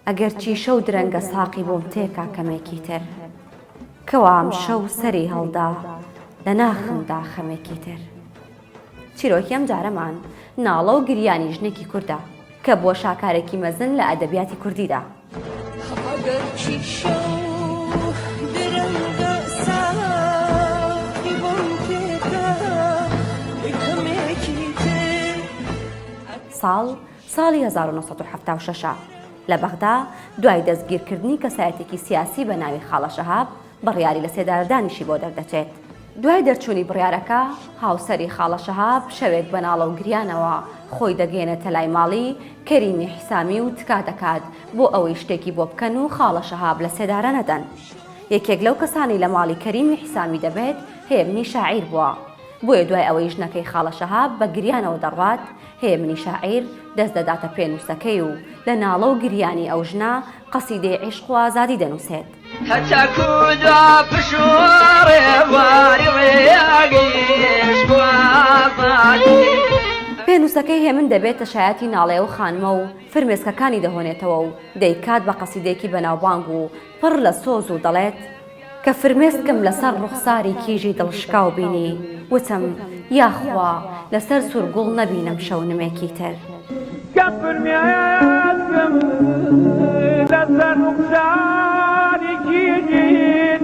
ئەگەرچی شەو درەنگە ساقی بۆم تێکا کەمێکی تر کەوام شەو سەری هەڵدا لە ناخمدا خەمێکی تر. چیرۆکی ئەم جارەمان ناڵە و گریانی ژنێکی کوردە کە بووە شاکارێکی مەزن لە ئەدەبیاتی کوردیدا. ساڵ ساڵی هەزار و نۆ سەد و حەفتا و شەش لە بەغدا دوای دەستگیرکردنی کەسایەتێکی سیاسی بە ناوی خاڵە شەهاب بڕیاری لە سێدارەدانیشی بۆ دەردەچێت. دوای دەرچوونی بڕیارەکە، هاوسەری خاڵە شەهاب شەوێک بە ناڵە و گریانەوە خۆی دەگەیەنێتە لای ماڵی کەریمی حیسامی و تکا دەکات بۆ ئەوەی شتێکی بۆ بکەن و خاڵە شەهاب لە سێدارە نەدەن. یەکێک لەو کەسانەی لە ماڵی کەریمی حیسامی دەبێت هێمنی شاعیر بووە. بۆیە دوای ئەوەی ژنەکەی خاڵە شەهاب بە گریانەوە دەڕوات، هێمنی شاعیر دەست دەداتە پێنووسەکەی و لە ناڵە و گریانی ئەو ژنە، قەسیدەی عیشق و ئازادی دەنووسێت. هەتاکوو دوا پشووڕێ بواری ڕێگەی عیشق و ئازادی. پێنووسەکەی هێمن دەبێتە شایەتی ناڵەی ئەو خانمە و فرمێسکەکانی دەهۆنێتەوە و دەیکات بە قەسیدەیەکی بەناوبانگ و پڕ لە سۆز و دەڵێت، کە فرمێسکم لەسەر ڕوخساری کیژی دڵشکاو بینی، وتم، یاخوا لەسەر سوور گوڵ نەبینم شەونمێکی تر. کە فرمێسکم لەسەر ڕوخساری کیژی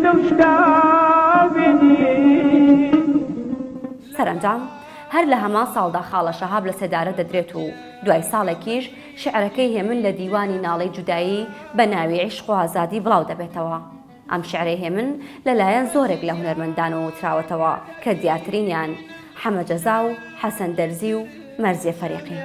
دڵشکاو بینی. سەرەنجام، هەر لە هەمان ساڵدا خاڵە شەهاب لە سێدارە دەدرێت و دوای ساڵێکیش، شیعرەکەی هێمن لە دیوانی ناڵەی جودایی بە ناوی عیشق و ئازادی بڵاو دەبێتەوە. ئەم شیعرەی هێمن لە لایەن زۆرێک لە هونەرمەندانەوە وتراوەتەوە کە دیارترینیان حەمە جەزا و حەسەن دەرزی و مەرزیە فەریقین.